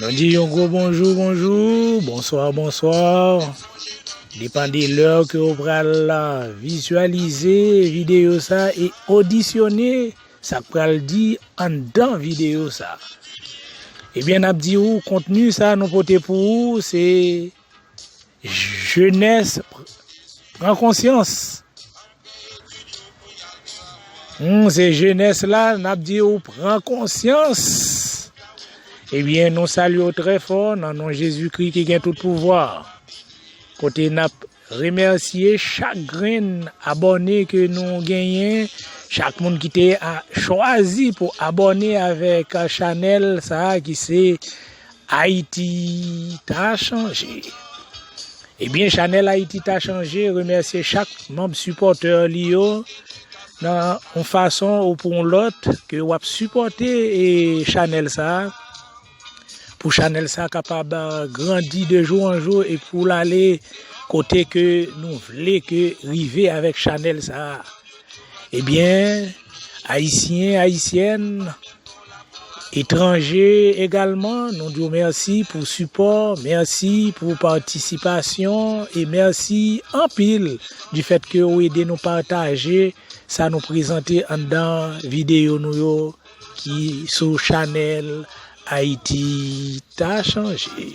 Nou di yon gwo bonjou bonjou, bonswa bonswa, depan de lè ke ou pral vizyalize videyo sa e odisyone sa k pral di anndan videyo sa. Ebyen n ap di ou kontni sa nou pote pou ou se Jenès pran konsyans. Humm se jenès la nap di ou pran konsyans. Ebyen eh nou salye ou trè fò nan non Jezikri ki gen tout pouvwa. Kote nap remèsye chak grenn abòne ke nou genyen, chak moun ki te chwazi pou abòne avèk chanèl sa ki se. Ayiti ta chanje! Ebyen chanèl Ayiti ta chanje remèsye chak manb sipòtè li yo nan yon fason ou pou yon lòt ke w ap sipòte chanèl sa pou chanèl sa kapab grandi de jou an jou e pou l ale kote ke nou vle ke rive avèk chanèl sa. Ebyen ayisyen ayisyèn etranje egalman nou diw mèsi pou sipò mèsi pou patisipasyon e mèsi anpil di fèt ke ou ede nou pataje sa nou prezante anndan videyo nou yo ki sou chanèl ayiti ta chanje.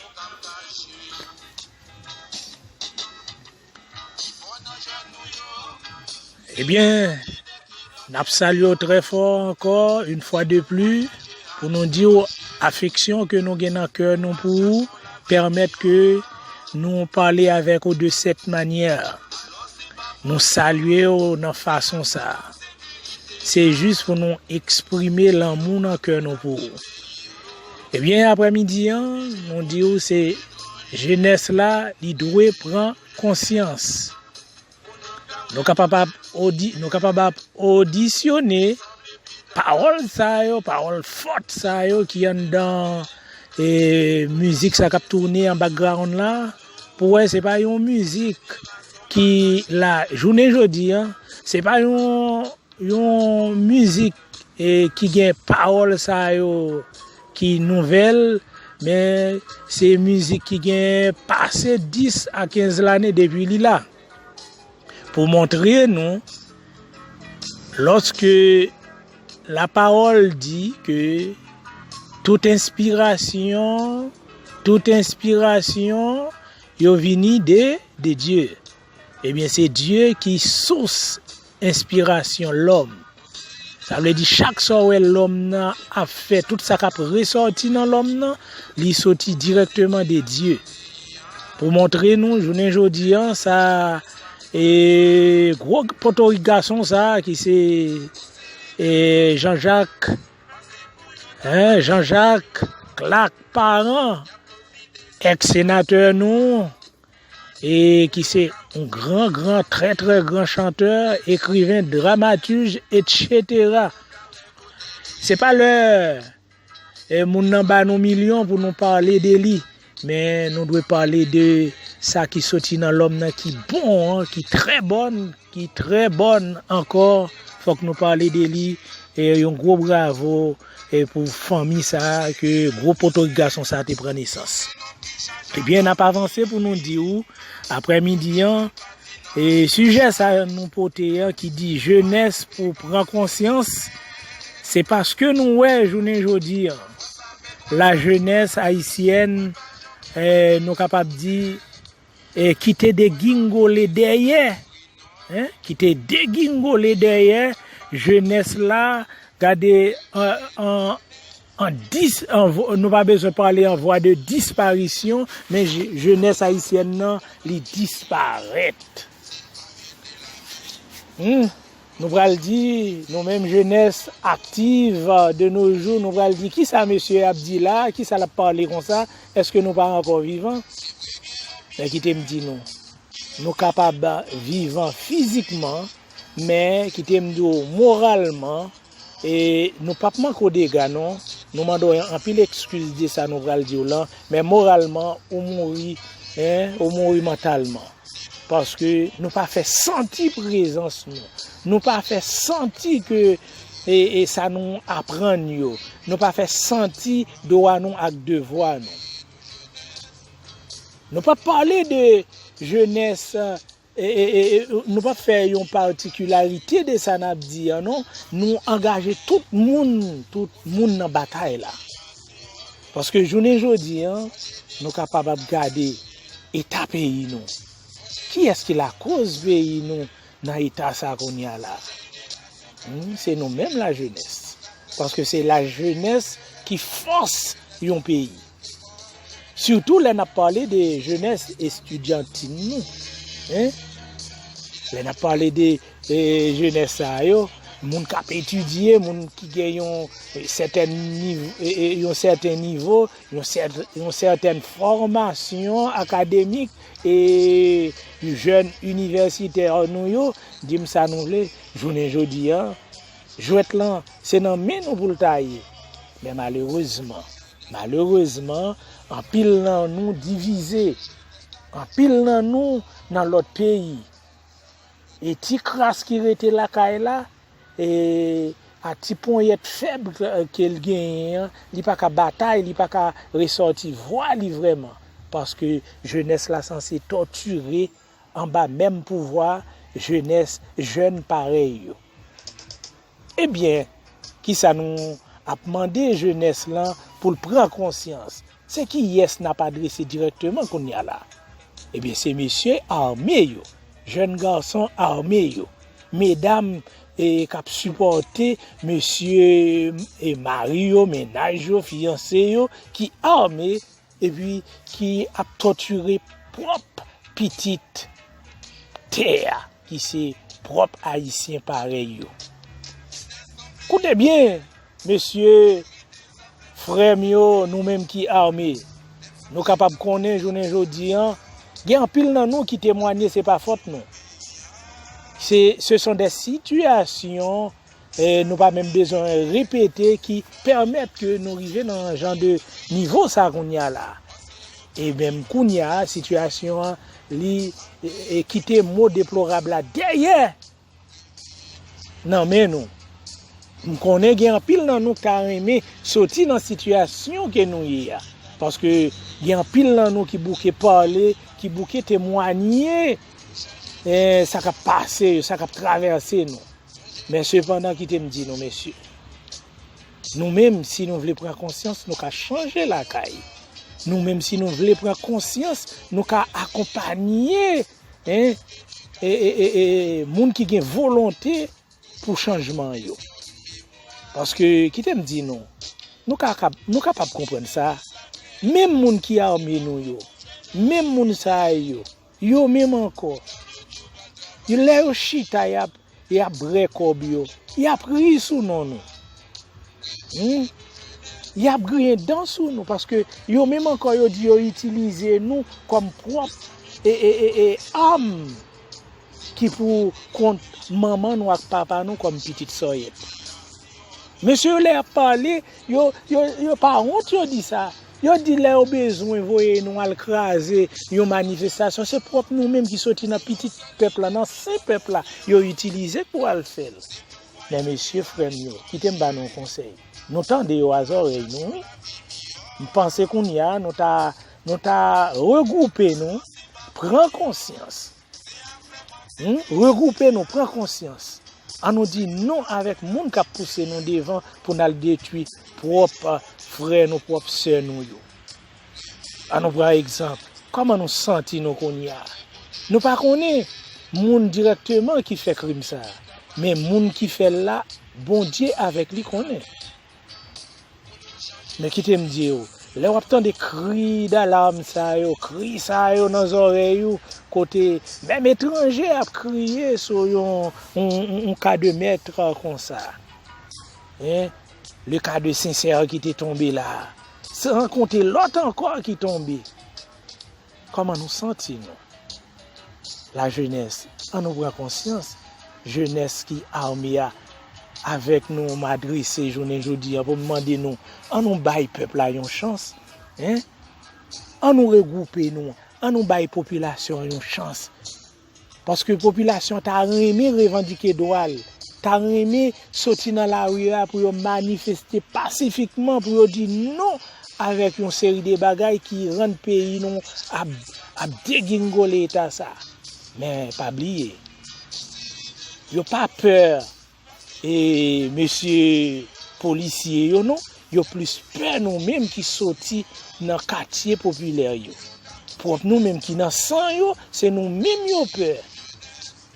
Ebyen, n ap salye w trè fò ankò, in fwa de pli, pou nou di w afeksyon ke nou gen nan kè nou pou ou, pèmèt ke nou pale avèk ou de sèt manyè. Nou salye w nan fason sa. Se jis pou nou eksprime lanmou nan kè nou pou ou. Ebyen aprè midi an nou diw se jenès la li dwe pran konsyans nou kapab ap nou kapab ap odisyone pawòl sa yo pawòl fòt sa yo ki anndan e mizik sa kap toune an background la pou wè se pa yon mizik ki la jounen jodi an se pa yon yon mizik e ki gen pawòl sa yo ki nouvèl men se mizik ki gen pase 10 a 15 lane depi li la pou montre nou lòske la pawòl di ke tout enspirasyon tout enspirasyon yo vini de Dye. Ebyen se Dye ki sous enspirasyon lòm. Sa vle di chak sa w wè lòm nan ap fè, tout sa k ap resòti nan lòm nan, li soti dirèkteman de Dye. Pou montre nou jounen jodi an sa e gwo potorik gason sa ki se Jan Jak, Jan Jak, Klak Paran, èks senatè nou. e ki se yon gran gran trè trè gran chantè, ekriven, dramatuj etchetera. Se pa lè e moun nan ba nou milyon pou nou pale de li, men nou dwe pale de sa ki soti nan lòm nan ki bon an, ki trè bòn, ki trè bòn ankò, fòk nou pale de li e yon gwo bravo. E pou fanmi sa a ke gwo potorik gason sa a te pran nesans. Ebyen n ap avanse pou nou di ou aprè midi an e sijè sa a nou pote an ki di jenès pou pran konsyans se paske nou wè jounen jodi an lajenès ayisyèn nou kapab di e ki te degingole dèyè, hein, ki te degingole dèyè jenès la, gade an, an dis, an, nou pa bezwen pale an vwa de disparisyon, men jenès ayisyèn nan li disparèt. Humm. Nou pral di, nou menm jenès aktiv de no jou, nou pral di ki sa mesye a ap di la, ki sa l ap pale konsa, èske nou pa ankò vivan? Men kite m di nou, nou kapab vivan fizikman, men kite m di w moralman, e nou pa p manke w dega non, nou mande w anpil ekskiz de sa nou pral di w lan, men moralman ou mouri, ou mouri mantalman. Paske nou pa fè santi prezans nou. Nou pa fè santi ke e sa nou aprann yo. Nou pa fè santi dwa nou ak devwa nou. Nou pa pale de jenès nou pa fè yon patikilarite de sa nap di an non. Nou angaje tout moun tout moun nan batay la. Paske jounen jodi a, nou kapab ap gade eta peyi nou. Kiyès ki lakoz peyi nou nan eta sa kounye a la? Se nou menm lajenès. Paske se lajenès ki fòs yon peyi. Sitou lè n ap pale de jenès estidyantin nou. Lè n ap pale de E jenès sa yo, moun k ap etidye, moun ki gen yon sèten nivo, yon sèten fòmasyon akademik, e jèn inivèsitè nou yo, di m sa nou vle, jounen jodi a, jwèt lan se nan men nou pou l ta ye. Men malerezman, malerezman, anpil nan nou divize, anpil nan nou nan lòt peyi, E ti kras ki rete lakay la, e ak ti ponyèt fèb ke l genyen an, li pa ka batay, li pa ka resòti vwa li vrèman. Paske jenès la sanse tòtire anba menm pouvwa jenès, jèn parèy yo. Ebyen, kisa nou ap mande jenès lan pou l pran konsyans? Se kiyès n ap adrese dirèkteman kounye a la? Ebyen se mesye ame yo, jèn gason ame yo, medam k ap sipòte mesye mari yo, mennaj yo, fiyanse yo ki ame epi ki ap tòtire pwòp pitit tè a ki se pwòp ayisyen parèy yo. Koute byen! Mesye, frè m yo, nou menm ki ame, nou kapab konnen jounen jodi an, gen anpil nan nou ki temwanye se pa fòt nou. Se se son de sitiyasyon nou pa menm bezwen repete ki pèmèt ke nou rive nan jan de nivo sa kounye a la. E menm kounye a, sitiyasyon an li kite mo deplorab la dèyè! nan men nou. M konnen gen anpil nan nou ka renmen soti nan sitiyasyon ke nou ye a. Paske gen anpil nan nou ki bouke pale, ki bouke temwanye eh, sa k ap pase, sa k ap travèse nou. Men sepandan kite m di nou mesye, nou menm si nou vle pran konsyans nou ka chanje lakay. Nou menm si nou vle pran konsyans nou ka akonpanye. hein e e e moun ki gen volonte pou chanjman yo paske kite m di nou nou ka kap nou kapab konprann sa menm moun ki ame nou yo menm moun sa yo yo menm ankò lè yo chita yap Yap brè kob yo. Yap ri sou non nou. Humm. Yap griyen dan sou nou paske yo menm ankò yo di yo itilize nou kòm pwòp e arm ki pou kont manman nou ak papa nou kòm pitit sòyèt. Mesye yo lè yap pale yo pa wont yo di sa. Yo di lè yo bezwen voye nou al kraze yon manifestasyon se pwòp nou menm ki soti nan pitit pèp la, nan sen pèp la yo itilize pou al fè l. Men mesye, frè m yo, kite m ba nou yon konsèy, nou tande yo a zòrèy nou wi. M panse kounye a nou ta nou ta regwoupe nou, pran konsyans. Regroupe nou pran konsyans an nou di non avèk moun kap pouse nou devan pou nal detwi prop frè nou prop sè nou yo an nou pran egzanp kòman nou santi nou kounya nou pa konnen moun dirèkteman ki fè krim sa men moun ki fèl la Bondye avèk li konnen. Men kite m di ou, lè w ap tande kri dalam sa yo, kri sa yo nan zòrèy ou, kote menm etranje ap kriye sou yon ka de mètre konsa, le ka de Sencer ki te tonbe la, san konte lòt ankò ki tonbe, Kòman nou santi nou? La jenès, an nou pran konsyans, jenès ki armé a avèk nou m adrese jounen jodi a pou m mande nou, an nou bay pèp la yon chans, an nou regwoupe nou, an nou bay popilasyon an yon chans. Paske popilasyon ta renmen revandike dwa l, ta renmen soti nan lari a pou yo manifeste pasifikman pou yo di non avèk yon seri de bagay ki rann peyi nou ap degingole eta sa. Men pa bliye, yo pa pè e mesye polisye yo non, yo plis pè nou menm ki soti nan katye popilè yo. Pwòp nou menm ki nan san yo, se nou menm yo pè.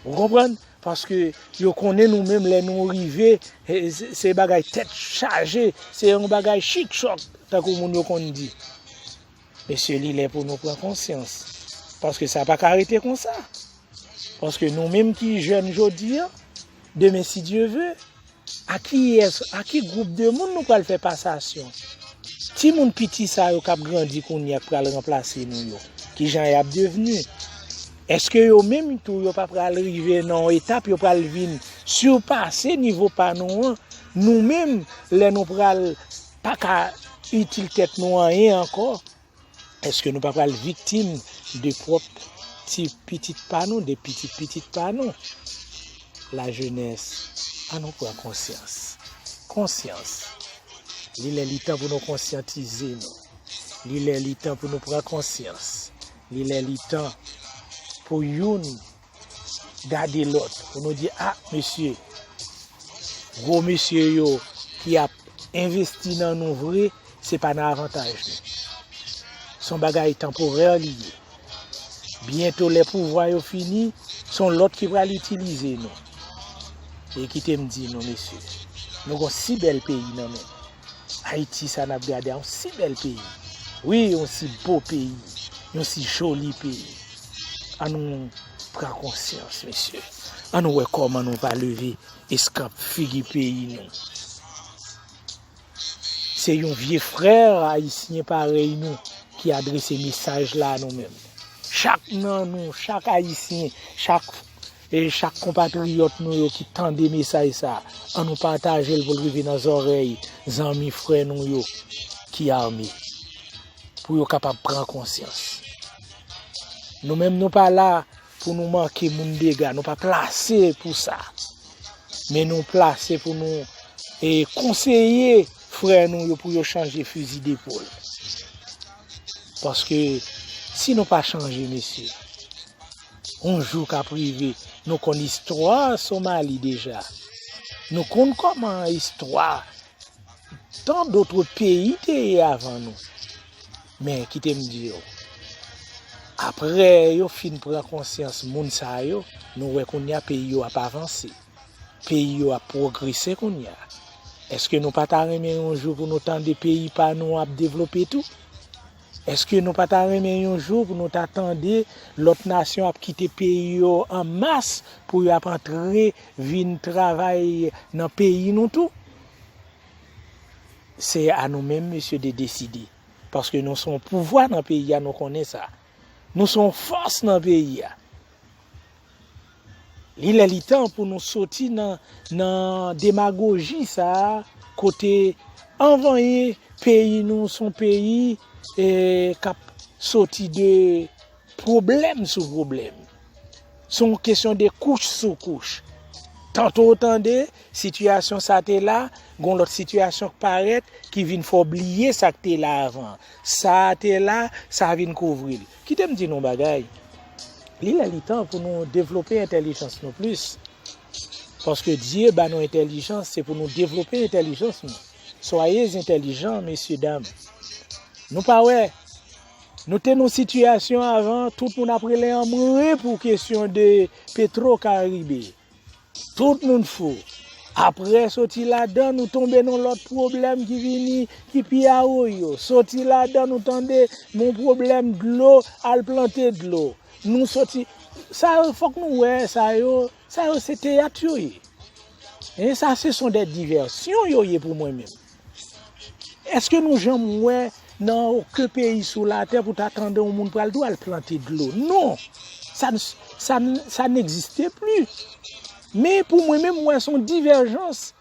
Ou konprann? Paske yo konnen nou menm lè nou rive, se bagay tèt chaje, se yon bagay chik chòk, tankou moun yo konn di. Mesye li lè pou nou pran konsyans, paske sa pa ka rete konsa, paske nou menm ki jèn jodi an, demen si Dye ve, a kiyès, a ki gwoup de moun nou pral fè pasasyon? Ti moun piti sa yo kap grandi kounye a k pral ranplase nou yo, ki jan yap devni? Eske yo menm tou yo pa pral rive nan yon etap yo pral vin sipase nivo pa nou an, nou menm lè nou pral pa ka itil tèt nou anyen ankò, èske nou pa pral viktim de pwòp ti pitit pa nou, de pitit pitit pa nou? Lajenès, an nou pran konsyans. Konsyans! Li lè li tan pou nou konsyantize nou. Li lè li tan pou nou pran konsyans. Li lè li tan pou youn gade lòt pou nou di a mesye gwo mesye yo ki ap envesti nan nou vre se pa nan avantaj nou son bagay tanporè li ye byento lè pou vwa yo fini son lòt ki pral itilize nou e kitem di nou mesye nou gon si bèl peyi nan men Ayiti sa nap gade a yon si bèl peyi wi yon si bo peyi yon si joli peyi an nou pran konsyans mesye an nou wè kòman nou va leve eskanp figi peyi nou se yon vye frè ayisyen parèy nou ki adrese mesaj la nou menm chak nan nou chak ayisyen chak E chak konpatriyòt nou yo ki tande mesaj sa, an nou pataje l pou l rive nan zòrèy zanmi, frè nou yo ki ame. Pou yo kapab pran konsyans. Nou menm nou pa la pou nou manke moun dega, nou pa plase pou sa. Men nou plase pou nou e konseye frè nou yo pou yo chanje fizi depol. Paske si nou pa chanje mesye. Yon jou kap rive nou konn istwa Somali deja nou konn koman istwa tan dotre peyi te ye avan nou men kite m di yo apre yo fin pran konsyans moun sa yo nou wè kounya peyi yo ap avanse peyi yo ap pwogrese kounya eske nou pa ta renmen yon jou pou nou tande peyi pa nou ap devlope tou. Eske nou pa ta renmen yon jou pou nou ta tande lòt nasyon ap kite peyi yo an mas pou yo ap antre vin travay nan peyi nou tou? Se a nou menm mesye de deside. Paske nou son pouvwa nan peyi a nou konnen sa. Nou son fòs nan peyi a. Li lè li tan pou nou soti nan nan demagoji sa a kote anvanyen peyi nou son peyi k ap soti de pwoblèm sou pwoblèm. Se yon kesyon de kouch sou kouch. Tanto ou tande sitiyasyon sa te la, gon lòt sitiyasyon k parèt ki vin fè w bliye sa k te la avan. Sa a te la, sa vin kouvri l. Kite m di nou yon bagay, li lè li tan pou nou devlope entèlijans nou plis, paske Dye ba nou entèlijans se pou nou devlope entèlijans nou, soyez intelligents mesye dam, nou pa wè nou te nan sitiyasyon avan tout moun ap rele anmwe pou kesyon de petro karibe. Tout moun fou. Apre soti ladan nou tonbe nan lòt pwoblèm ki vini ki pi awoyo. Soti ladan nou tande nou pwoblèm dlo al plante dlo. Nou soti sa yo fòk nou wè sa yo sa yo se teyat yo ye. Sa se son de divèsyon yo ye pou mwen menm. Eske nou janm wè nan oken peyi sou latè pou ta tande yon moun pral di w al plante dlo? Non! Sa n'existe plus. Men pou mwen menm mwen son divèjans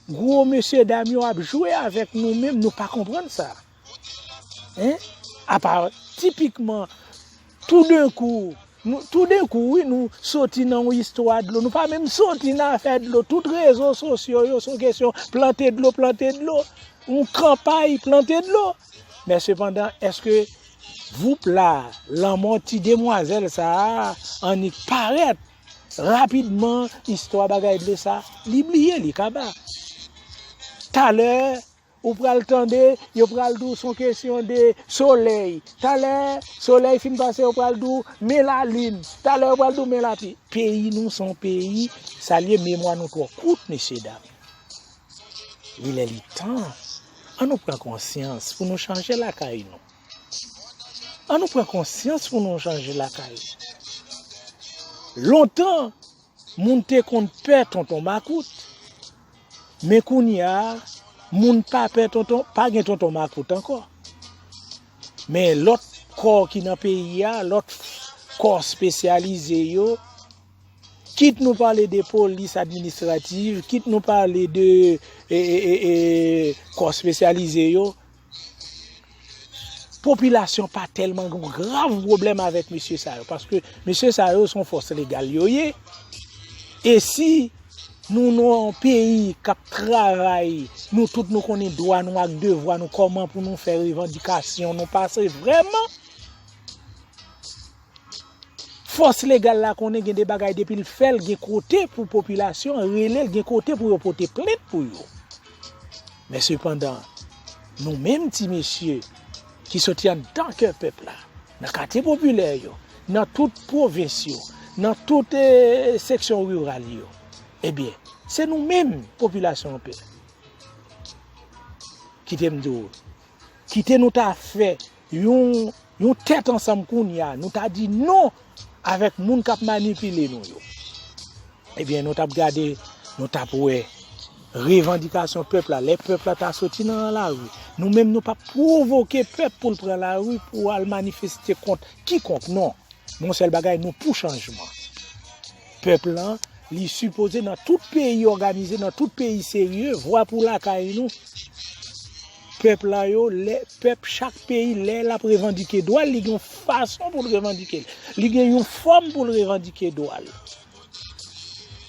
gwo mesye dam yo ap jwe avèk nou menm nou pa konprann sa. Apa tipikman Toudenkou, nou, toudenkou wi nou soti nan yon istwa dlo, nou pa menm soti nan afè dlo, tout rezo sosyo yo son kesyon plante dlo, plante dlo, yon kanpay plante dlo. Men sepandan, eske voup la, lanmò ti demwazèl sa a, annik parèt, rapidman istwa bagay dlo sa, li bliye, li kaba. Talè. Ou pral tande yo pral di w son kesyon de solèy, talè solèy fin pase yo pral di w men lalin, talè yo pral di w men lapli. Peyi nou se yon peyi sa l ye memwa nou twò kout mesye dam. Li lè li tan an nou pran konsyans pou nou chanje lakay nou. An nou pran konsyans pou nou chanje lakay nou. Lontan. Moun te konn pè tonton makout men kounya moun pa pè tonton pa gen tonton makout ankò men lòt kò ki nan peyi a lòt kò spesyalize yo kit nou pale de polis administrativ kit nou pale de kò spesyalize yo Popilasyon pa tèlman gon grav pwoblèm avèk mesye sa yo, paske mesye sa yo son fòs legal yo ye, e si nou nan yon peyi kap travay, nou tout nou konnen dwa nou ak devwa nou kòman pou nou fè revandikasyon nou pase vrèman. Fòs legal la konnen gen de bagay depi l fè l gen kote pou popilasyon an rele l, gen kote pou yo pote plent pou yo. Men sepandan, nou menm ti mesye ki soti anndan kè pèp la, nan katye popilè yo, nan tout pwovens yo, nan tout seksyon riral yo, ebyen, se nou menm popilasyon an pè. Kite m di w, kite nou ta fè. yon tèt ansanm kounya nou ta di non avèk moun kap manipile nou yo ebyen nou tap gade nou tap wè revandikasyon pèp la lè pèp la ta soti nan la ri nou menm nou pap provoke pèp pou l pran la ri pou al manifeste kont kikonk non yon sèl bagay nou pou chanjman pèp lan li sipoze nan tout peyi òganize nan tout peyi serye vwa pou lakay nou. Pèp la yo lè pèp chak peyi lè lap revandike dwal li gen yon fason poul revandike l li gen yon fòm poul revandike dwal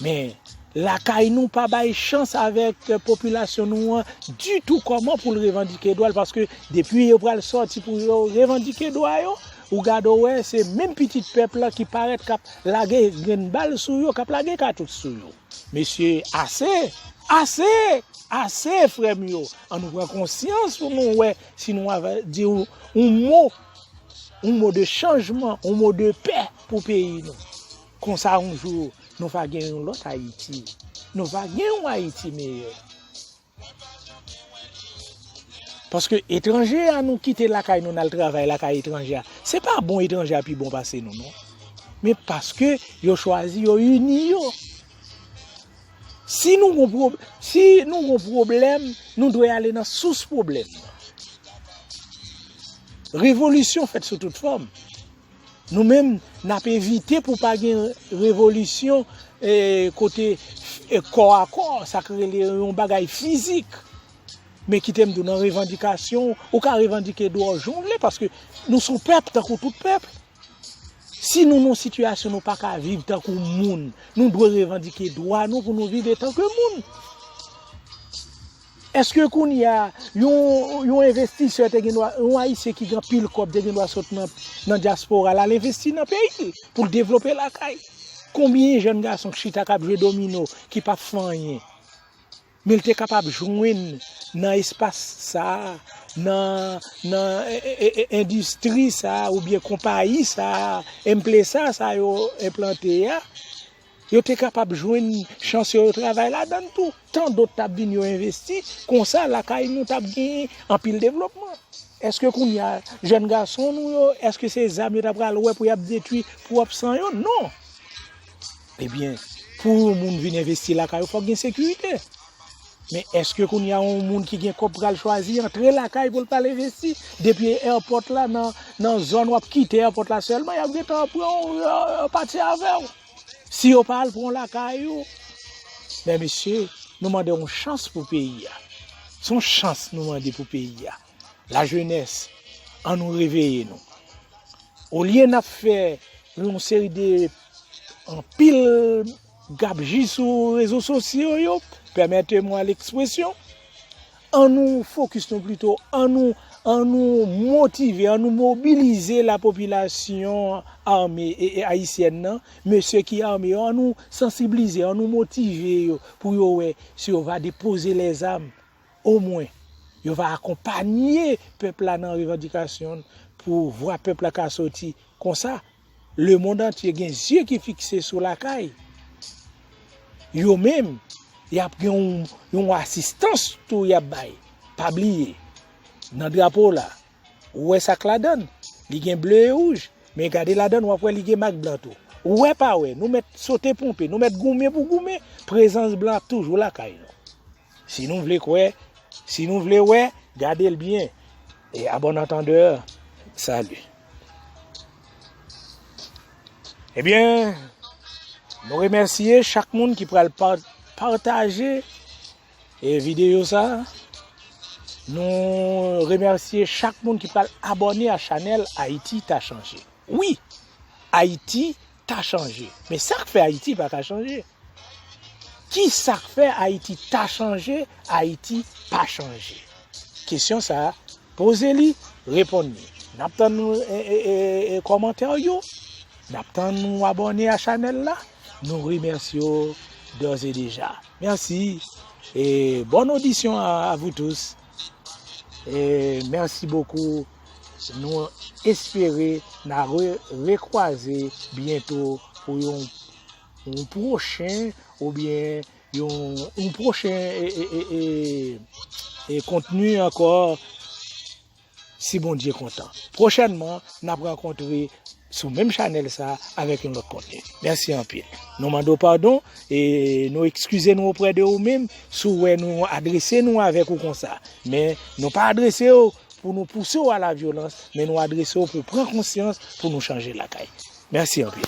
men lakay nou pa bay chans avèk popilasyon nou an ditou kòman poul revandike dwal paske depi yo pral sòti pou yo revandike dwa yo ou gade wè se menm pitit pèp la ki parèt kap lage grenn bal sou yo kap lage katouch sou yo mesye ase ase Ase frem yo, an nou pran konsyans pou nou wè si nou ava di yon mo, yon mo de chanjman, yon mo de pè pou peyi nou. Konsa yon jou nou va gen yon lòt Ayiti, nou va gen yon Ayiti meyè. Paske etranje a nou kite lakay nou nal travay lakay etranje a, se pa bon etranje a pi bon pase nou non. Men paske yo chwazi yo ini yo. Si nou gon pwoblèm, nou dwe ale nan sous pwoblèm nan. Revolisyon fèt sou tout fòm. Nou menm, n ap evite pou pa gen revolisyon kote kò a kò, sa ki rele yon bagay fizik. Men kite m di w nan revandikasyon, ou ka revandike dwòj jan w vle paske nou son pèp tankou tout pèp. Si nou nan sitiyasyon nou pa ka viv tankou moun, nou dwe revandike dwa nou pou nou viv etan ke moun. Eske kounye a, yon envestisè te gen dwa, yon ayisyen ki gen anpil kòb te gen dwa sot nan dyaspora la, al envesti nan peyi l, pou l devlope lakay. Konbyen jèn gason ki chita k ap jwe domino, ki pa p fè anyen? Men l te kapab jwenn nan espas sa a, nan endistri sa a oubyen konpayi sa a, emplesa sa yo enplante a, yo te kapab jwenn chans yo travay ladan l tou. Tan dot t ap vin yo envesti, konsa lakay nou t ap gen anpil devlopman. Eske kounye a jèn gason nou yo, eske se zam yo ta pral wè pou y ap detwi pwòp san yo? Non! Ebyen, pou yon moun vin envesti lakay ou fòk gen sekirite. Men eske kounye a yon moun ki gen kòb pral chwazi antre lakay pou l pral envesti? Depi èpòt la nan zòn wap kite èpòt la sèlman yap gentan pran w yo pati avè w. Si yo pa al pran w lakay ou, men mesye nou mande yon chans pou peyi a. Son chans nou mande pou peyi a. La jenès, an nou reveye nou. Olye n ap fè yon seri de anpil gabji sou rezo sosyo yo, pèmète mwa lekspresyon, an nou fokis nou plito, an nou motive, an nou mobilize la popilasyon ame e ayisyèn nan, mesye ki ame yo, an nou sansiblize, an nou motive yo pou yo wè si yo va depoze lèzam. Omwen, yo va akonpanye pèp la nan revandikasyon l pou vwa pèp la ka soti. Konsa, lemonn antye gen zye ki fikse sou lakay. Yo menm, y ap gen yon asistans tou y ap bay. Pa bliye, nan drapo w la, ou wè sa k ladan l? Li gen ble e wouj, men gade ladan l w ap wè li gen mak blan tou. Wè pa wè, nou mèt sote ponpe, nou mèt goumen pou goumen, prezans blan ap toujou lakay nou. Si nou vle kwè, si nou vle wè, gade l byen. E a bon antandè, sali. Ebyen, nou remèsye chak moun ki pral pataje e videyo sa. Nou remèsye chak moun ki pral abone a chanèl Ayiti ta chanje. Wi, Ayiti ta chanje. Men sa k fè Ayiti pa ka chanje? Ki sa k fè Ayiti ta chanje, Ayiti pa chanje? Kesyon sa a, poze li, reponn li. N ap tann kòmantè w yo, n ap tann ou abòne a chanèl la. Nou remèsye w dòzèdeja. Mèsi e bòn odisyon a vous tous. E merci beaucoup nou espere na rekwaze byento pou yon pwochen ou byen yon pwochen e kontni ankò si Bondye kontan. Pwochènman nap rankontre sou menm chanèl sa avèk yon lòt kontni. Mèsi anpil. Nou mande w padon e nou ekskize nou oprè de ou menm si w wè nou adrese nou avèk ou konsa. Men nou pa adrese w pou nou pouse w a la vyolans men nou adrese w pou pran konsyans pou nou chanje lakay. Mèsi anpil.